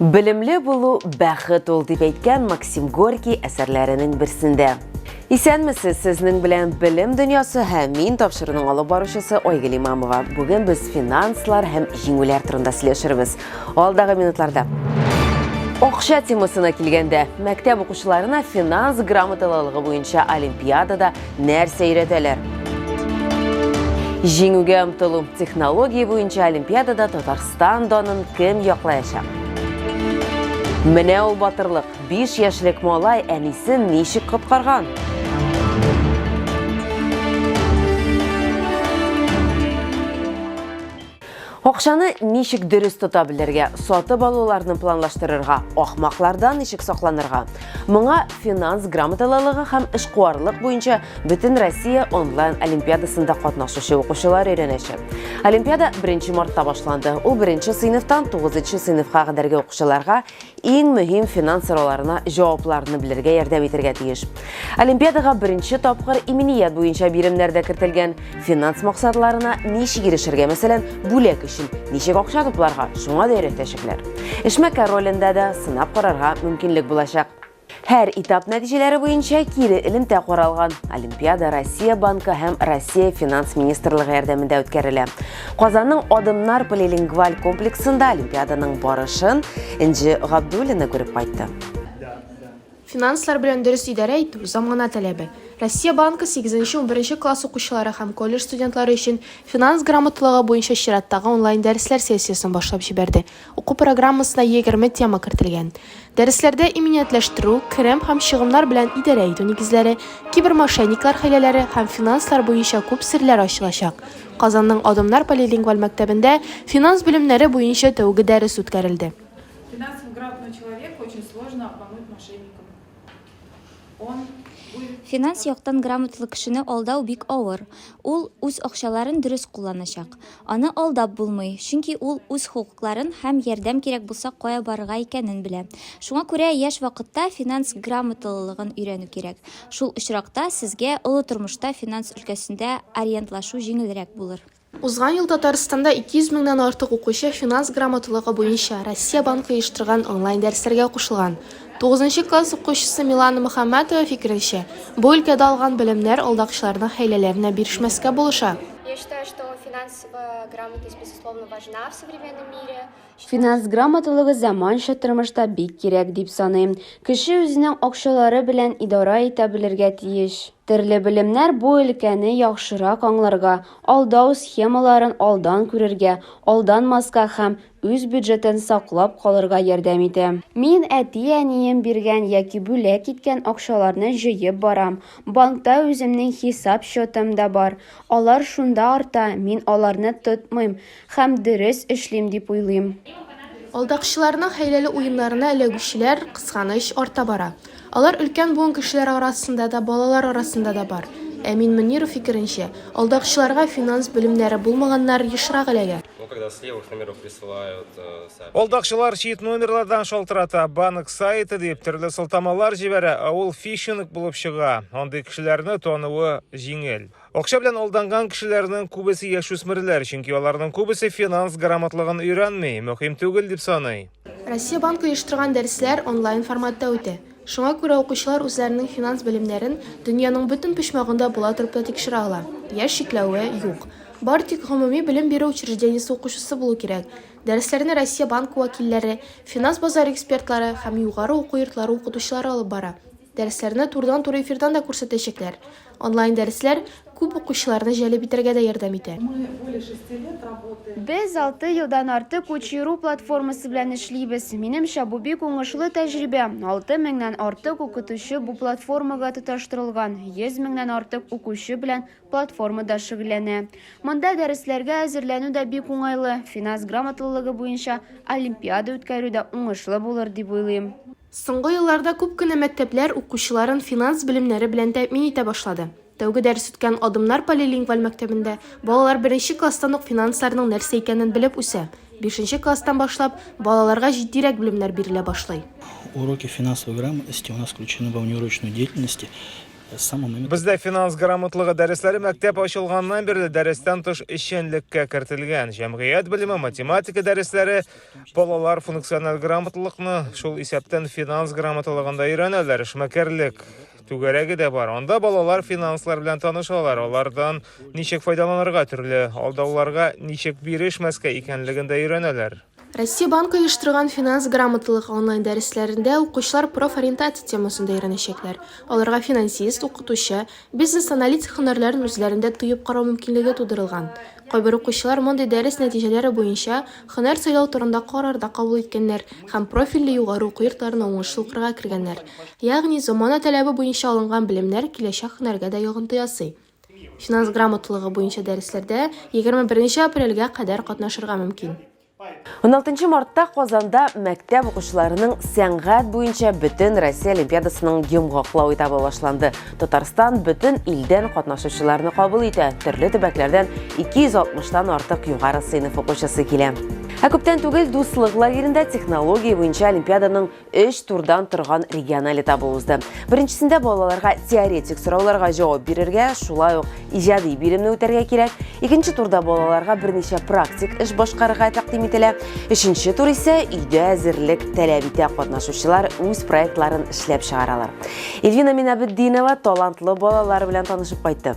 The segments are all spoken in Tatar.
Белемле булу бәхет ул, дип әйткән Максим Горький әсәрләренең берсендә. Исәнмесез, сезнең белән белем дөньясы һәм мин тапшыруның алып баручысы Айгөл Имамова. Бүген без финанслар һәм җиңүләр турында сөйләшербез. Алдагы минутларда. Акча темасына килгәндә, мәктәп укучыларына финанс грамоталылыгы буенча олимпиадада нәрсә өйрәтәләр? Җиңүгә омтылу технология буенча олимпиадада Татарстан данын кем яклаячак? Менә ул батырлык, 5 яшьлек малай әнисен ничек коткарган? Акчаны ничек дөрес тота белергә, сатып алуларны планлаштырырга, ахмаклардан ничек сакланырга? Моңа финанс грамоталылыгы һәм эшкуарлык буенча бөтен Россия онлайн олимпиадасында катнашучы укучылар өйрәнәчәк. Олимпиада 1 мартта башланды. Ул беренче сыйныфтан 9 сыйныфка кадәрге укучыларга иң мөһим финанс сорауларына җавапларны белергә ярдәм итергә тиеш. Олимпиадага беренче тапкыр иминият буенча биремнәр дә кертелгән. Финанс максатларына ничек ирешергә, мәсәлән, бүләк өчен ничек акча тупларга, шуңа да өйрәтәчәкләр. Эшмәкәр ролендә дә сынап карарга мөмкинлек булачак. Һәр этап нәтиҗәләре буенча кире элемтә каралган. Олимпиада Россия банкы һәм Россия финанс министрлыгы ярдәмендә үткәрелә. Казанның Адымнар полилингваль комплексында олимпиаданың барышын Энҗе Габдуллина күреп кайтты. Финанслар белән дөрес идарә итү, замана таләбе. Россия банкы 8-11 класс укучылары һәм колледж студентлары өчен финанс грамоталыгы буенча чираттагы онлайн-дәресләр сессиясен башлап җибәрде. Уку программасына егерме тема кертелгән. Дәресләрдә иминиятләштерү, керем һәм чыгымнар белән идарә итү нигезләре, кибермошенниклар хәйләләре һәм финанслар буенча күп серләр ачылачак. Казанның Адымнар полилингваль мәктәбендә финанс белемнәре буенча тәүге дәрес үткәрелде. Финанс яктан грамоталы кешене алдау бик авыр. Ул үз акчаларын дөрес кулланачак. Аны алдап булмый, чөнки ул үз хокукларын һәм ярдәм кирәк булса кая барырга икәнен белә. Шуңа күрә яшь вакытта финанс грамоталылыгын өйрәнү кирәк. Шул очракта сезгә олы тормышта финанс өлкәсендә ориентлашу җиңелрәк булыр. Узган ел Татарстанда 200 меңнән артык укучы финанс грамоталыгы буенча Россия Банкы оештырган онлайн-дәресләргә кушылган. Тугызынчы класс укучысы Милана Мөхәммәтова фикеренчә, бу өлкәдә алган белемнәр алдакчыларның хәйләләренә бирешмәскә булыша. Я считаю, что финансовая грамотность безусловно важна в современном мире. Финанс грамоталыгы заманча тормышта бик кирәк дип саныйм. Кеше үзенең акчалары белән идарә итә белергә тиеш. Төрле белемнәр бу өлкәне яхшырак аңларга, алдау схемаларын алдан күрергә, алданмаска һәм үз бюджетын саклап калырга ярдәм итә. Мин әти-әнием биргән яки бүләк иткән акчаларны җыеп барам. Банкта үземнең хисап счетым да бар. Алар шунда арта, мин аларны тотмыйм. Һәм дөрес эшлим дип уйлыйм. Алдакчыларның хәйләле уеннарына эләгүчеләр, кызганыч, арта бара. Алар өлкән буын кешеләре арасында да, балалар арасында да бар. Әмин Мөниров фикеренчә, алдакчыларга финанс белемнәре булмаганнар ешрак эләгә. Алдакчылар чит номерлардан шалтырата, банк сайты дип, төрле сылтамалар җибәрә, ә ул фишинг булып чыга. Андый кешеләрне тануы җиңел. Акча белән алданган кешеләрнең күбесе яшүсмерләр, чөнки аларның күбесе финанс грамотлыгын өйрәнми, мөһим түгел дип саный. Россия Банкы оештырган дәресләр онлайн форматта үтә. Шуңа күрә укучылар үзләренең финанс белемнәрен дөньяның бөтен почмагында була торып та тикшерә ала. Яшь чикләве юк. Бары тик гомуми белем бирү учреждениесе укучысы булу кирәк. Дәресләрне Россия Банкы вәкилләре, финанс базары экспертлары һәм югары уку йортлары укытучылары алып бара. Дәресләрне турыдан-туры эфирдан да күрсәтәчәкләр. Онлайн-дәресләр күп укучыларны җәлеп итәргә дә ярдәм итә. Без алты елдан артык Учи.ру платформасы белән эшлибез. Минемчә, бу бик уңышлы тәҗрибә. Алты меңнән артык укытучы бу платформага тоташтырылган, йөз меңнән артык укучы белән платформада шөгыльләнә. Монда дәресләргә әзерләнү дә бик уңайлы, финанс грамоталылыгы буенча олимпиада үткәрү дә уңышлы булыр дип уйлыйм. Соңгы елларда күп кенә мәктәпләр укучыларын финанс белемнәре белән тәэмин итә башлады. Тәүге дәрес үткән Адымнар полилингваль мәктәбендә балалар беренче класстан ук финансларның нәрсә икәнен белеп үсә. Бишенче класстан башлап, балаларга җитдирәк белемнәр бирелә башлый. Уроки финансовой грамотности у нас включены во внеурочную деятельность с самого момента. Бездә финанс грамотлыгы дәресләре мәктәп ачылганнан бирле дәрестән тыш эшчәнлеккә кертелгән. Җәмгыять белеме, математика дәресләре, Балалар функциональ грамоталыкны, шул исәптән финанс грамоталыгын да өйрәнәләр. Эшмәкәрлек түгәрәге дә бар. Анда балалар финанслар белән танышалар, алардан ничек файдаланырга, төрле алдауларга ничек бирешмәскә икәнлеген дә өйрәнәләр. Россия банкы оештырган финанс грамоталык онлайн дәресләрендә укучылар профориентация темасын да өйрәнәчәкләр. Аларга финансист, укытучы, Бизнес-аналитик һөнәрләрен үзләрендә тоеп карау мөмкинлеге тудырылган. Кайбер укучылар мондый дәрес нәтиҗәләре буенча һөнәр сайлау турында карар да кабул иткәннәр һәм профильле югары уку йортларына уңышлы укырга кергәннәр. Ягъни, замана таләбе буенча алынган белемнәр киләчәк һөнәргә дә йогынты ясый. Финанс грамоталыгы буенча дәресләрдә егерме беренче апрельгә кадәр катнашырга мөмкин. 16 мартта Казанда мәктәп укучыларының сәнгать буенча бөтен Россия олимпиадасының йомгаклау этабы башланды. Татарстан бөтен илдән катнашучыларны кабул итә. Төрле төбәкләрдән 260-тан артык югары сыйныф укучысы килә. Ә күптән түгел дуслык лагеренда технология буенча олимпиаданың өч турдан торган региональ этабы узды. Беренчесендә балаларга теоретик сорауларга җавап бирергә, шулай ук иҗади биремне үтәргә кирәк. Икенче турда балаларга берничә практик эш башкарырга тәкъдим ителә. Өченче тур исә өйдә әзерлек таләп итә. Катнашучылар үз проектларын эшләп чыгаралар. Эльвина Минабетдинова талантлы балалар белән танышып кайтты.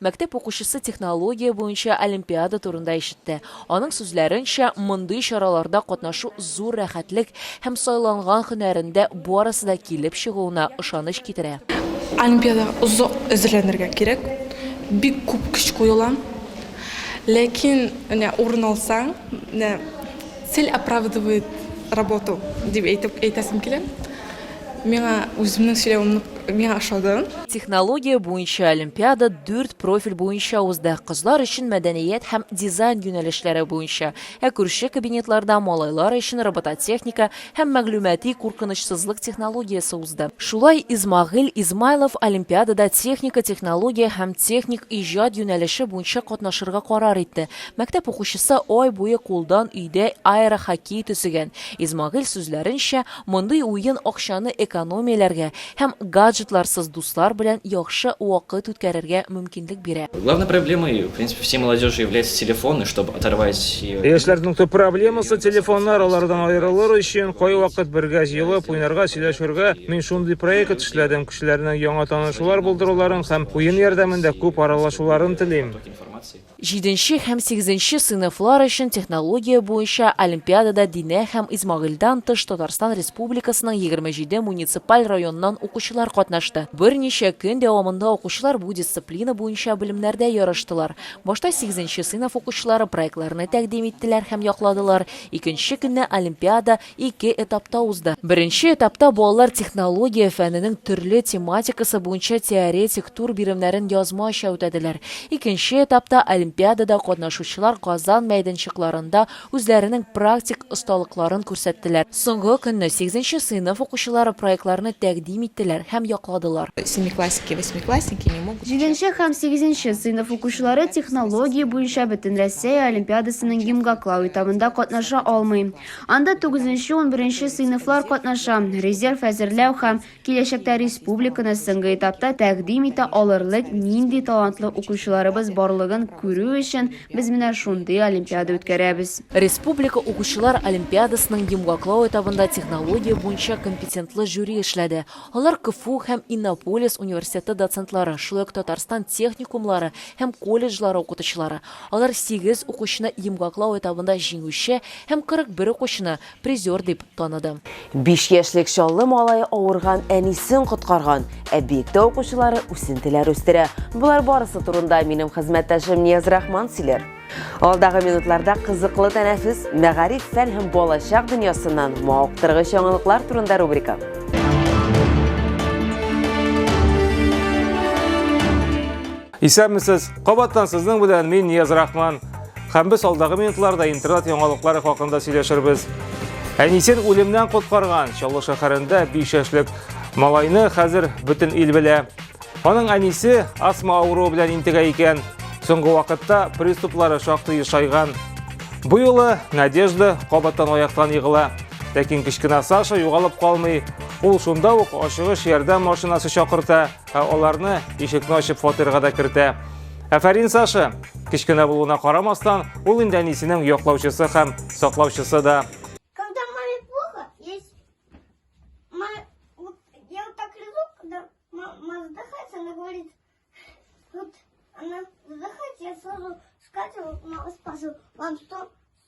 Мәктәп укучысы технология буенча олимпиада турында ишетте. Аның сүзләренчә, мондый чараларда катнашу зур рәхәтлек һәм сайланган һөнәрендә барысы да килеп чыгуына ышаныч китерә. Олимпиадага озак әзерләнергә кирәк, бик күп көч куела. Ләкин менә урын алсаң, менә цель оправдывает работу дип әйтеп әйтәсем килә. Миңа үземнең сөйләвем нык миңа ошады. Технология буенча олимпиада дүрт профиль буенча узды, кызлар өчен мәдәният һәм дизайн юнәлешләре буенча, ә күрше кабинетларда малайлар өчен робототехника һәм мәгълүмати куркынычсызлык технологиясе узды. Шулай Исмагыйль Измайлов олимпиадада техника технология һәм техник иҗат юнәлеше буенча катнашырга карар итте. Мәктәп укучысы ай буе кулдан өйдә аэрохоккей төзегән. Исмагыйль сүзләренчә, Мондый уен акчаны экономияләргә һәм гаджетларсыз дуслар белән яхшы вакыт үткәрергә мөмкинлек бирә. Главной проблемой, в принципе, всей молодежи является телефон, и чтобы оторвать ее. Яшьләрнең төп проблемасы, телефоннар, алардан аерылыр өчен, кайвакыт бергә җыелып, уйнарга, сөйләшергә, мин шундый проект эшләдем, кешеләрнең яңа танышулар булдыруларын һәм уен ярдәмендә күп аралашуларын телим. Җиденче һәм сигезенче сыйныфлар өчен технология буенча олимпиадада Динә һәм Исмагыйльдан тыш Татарстан Республикасының егерме җиде муниципаль районыннан укучылар катнашты. Берничә көн дәвамында укучылар бу дисциплина буенча белемнәрдә ярыштылар. Башта сигезенче сыйныф укучылары проектларны тәкъдим иттеләр һәм якладылар, икенче көнне олимпиада ике этапта узды. Беренче этапта балалар технология фәненең төрле тематикасы буенча теоретик тур биремнәрен язмача үтәделәр. Икенче этапта олимпиадада катнашучылар Казан мәйданчыкларында үзләренең практик осталыкларын күрсәттеләр. Соңгы көнне сигезенче сыйныф укучылары проектларны тәкъдим иттеләр һәм якладылар. Семиклассники и восьмиклассники не могут сейчас. Җиденче һәм сигезенче сыйныф укучылары технология буенча Бөтенрәссәя олимпиадасының гимгаклау этабында катнаша алмый. Анда тугызынчы-унберенче сыйныфлар катнаша. Резерв әзерләү һәм киләчәктә республиканы соңгы этапта тәкъдим итә алырлык нинди талантлы укучыларыбыз барлыгын күрү өчен без менә шундый олимпиада үткәрәбез. Республика укучылар олимпиадасының йомгаклау этабында технология буенча компетентлы жюри эшләде. Алар КФУ һәм Иннополис университеты доцентлары, шулай ук Татарстан техникумлары һәм колледжлары укытучылары, Алар сигез укучыны йомгаклау этабында җиңүче һәм 41 укучыны призер дип таныды. Биш яшьлек Чаллы малае авырган әнисен коткарган. Объектта укучылары үсентеләр үстерә. Болар барысы турында минем хезмәттәшем Нияз Рахман сөйләр. Алдагы минутларда кызыклы тәнәфес, мәгариф, фән һәм балачак дөньясыннан мавыктыргыч яңалыклар турында рубрика. Исәнмесез! Кабаттан сезнең белән мин Нияз Рахман. Һәм без алдагы минутларда интернет яңалыклары хакында сөйләшербез. Әнисен үлемнән коткарган Чаллы шәһәрендә 5 яшьлек малайны хәзер бөтен ил белә. Аның әнисе астма авыруы белән интегә икән. Соңгы вакытта приступлары шактый ешайган. Бу юлы Надежда кабаттан аяктан егыла. Ләкин кечкенә Саша югалып калмый. Ул шунда ук ашыгыч ярдәм машинасы чакырта Ә аларны ишекне ачып фатирга да кертә. Әфәрин Саша! Кечкенә булуына карамастан, ул инде әнисенең яклаучысы һәм саклаучысы да. Она задыхается, я сразу скатываю, мама спасу. Вам что?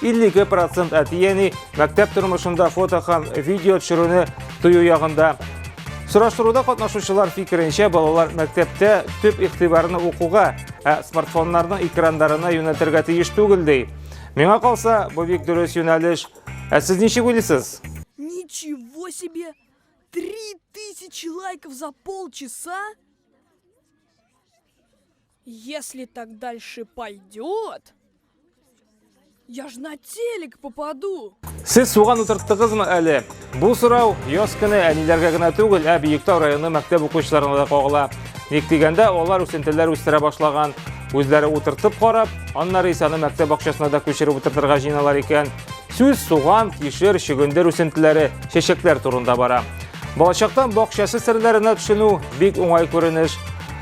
52 процент әтиәни мәктәп тормышында фото һәм видео төшерүне тыю ягында. Сораштыруда катнашучылар фикеренчә балалар мәктәптә төп игътибарны укуга, ә смартфоннарның экрандарына юнәтергә тиеш түгел ди. Миңа калса, бу бик дөрес юнәлеш. Ә сез ничек уйлыйсыз? Ничего себе! 3000 лайков за полчаса? Если так дальше пойдет, я ж на телек попаду. Сез суган утырттыгызмы әле? Бу сорау яз көне әниләргә генә түгел, ә Биектау районы мәктәп укучыларына да кагыла. Ник дигәндә, алар үсентеләр үстерә башлаган. Үзләре утыртып карап, аннары исә аны мәктәп бакчасына да күчереп утыртырга җыйналар икән. Сүз суган, кишер, чөгендер үсентеләре, чәчәкләр турында бара. Балачактан бакчасы серләренә төшенү бик уңай күренеш.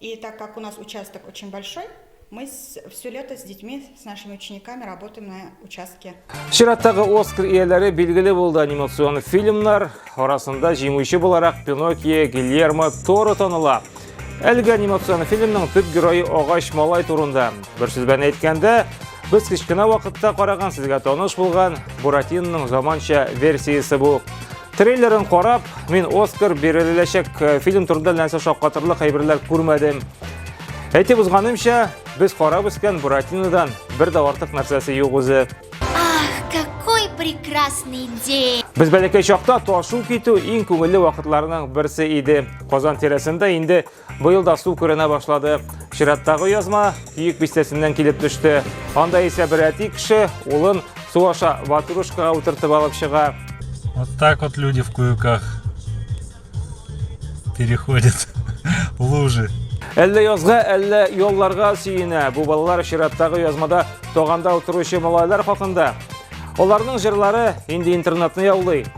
И так как у нас участок очень большой, мы все лето с детьми, с нашими учениками работаем на участке. Чираттагы Оскар ияләре билгеле булды анимацион фильмнар арасында җиңүче буларак Пиноккио Гильермо Торо таныла. Әлеге анимацион фильмның төп герое агач малай турында. Бер сүз белән әйткәндә, без кечкенә вакытта караган сезгә таныш булган Буратинның заманча версиясе бу. Трейлерын карап, мин Оскар биреләчәк э, фильм турында нәрсә шаккатырлык әйберләр күрмәдем. Әйтеп узганымча, без карап үскән Буратинодан бер дә артык нәрсәсе юк үзе. Ах, какой прекрасный день! Без бәләкәй чакта ташу китү иң күңелле вакытларның берсе иде. Казан тирәсендә инде Быел да су күренә башлады. Чираттагы язма Киек бистәсеннән килеп төште. Анда исә бер әти кеше улын су аша ватрушкага утыртып алып чыга. Вот так вот люди в куюках переходят лужи. Әллә язга, әллә ялларга сөенә. Бу балалар чираттагы язмада тоганда утыручы малайлар хакында. Аларның җырлары инде интернетны яулый.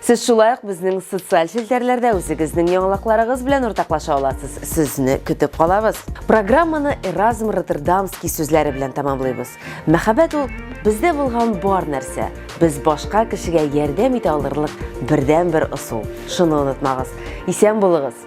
Сез шулай ук безнең социаль челтәрләрдә үзегезнең яңалыкларыгыз белән уртаклаша аласыз. Сезне көтеп калабыз. Программаны Эразм Роттердамский сүзләре белән тәмамлыйбыз. Мәхәббәт ул бездә булган бар нәрсә. Без башка кешегә ярдәм итә алырлык бердәнбер ысул. Шуны онытмагыз. Исән булыгыз.